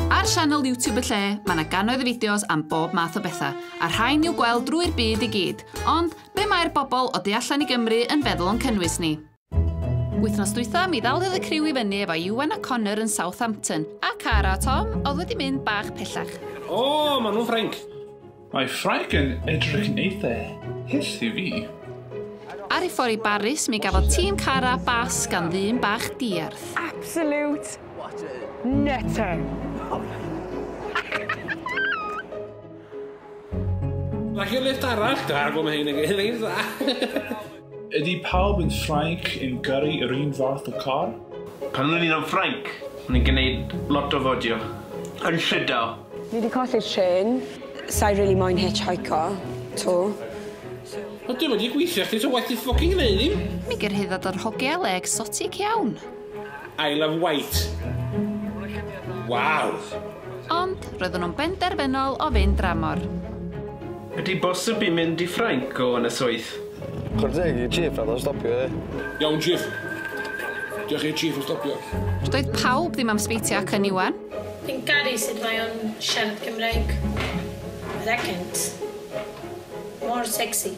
Ar sianel YouTube y lle, mae yna gannoedd o fideos am bob math o bethau, a rhain i'w gweld drwy'r byd i gyd. Ond, be mae'r bobl o du allan i Gymru yn feddwl o'n cynnwys ni? Wythnos dwytha, mi ddaliodd y criw i fyny efo Iwan a Connor yn Southampton, a Cara a Tom oedd wedi mynd bach pellach. O, maen nhw'n Ffrainc! Mae Ffrainc yn edrych yn eitha hyll i fi. Ar ei ffordd i Baris, mi gafodd tîm Cara bas gan ddyn bach diarth. Absolute nutter! Like your lift arall, da, gwm hyn yn gilydd. Ydy pawb yn Ffrainc yn gyrru yr un fath o car? Pan o'n i'n yn Ffrainc, o'n i'n gwneud lot o fodio yn Llydaw. Ni 'di colli'r trên. Sa'i rili moyn hitchhico 'to, so. Wel dwi'm yn gallu gweithio chdi ta waeth ti ffycin gneud ddim! Mi gyrhaeddodd yr hogia le egsotic iawn. I love white. Waw! Ond roeddwn nhw'n benderfynol o fynd dramor. Ydy bosib i mynd i Ffrainc o Ynysoedd? Chwarae teg i Chief nath o stopio fi. Iawn Chief. Diolch i'r Chief am stopio. Doedd pawb ddim am sbeitio ac yn Iwan. Fi'n caru sut mae o'n siarad Cymraeg. Yr accent. Mor sexy.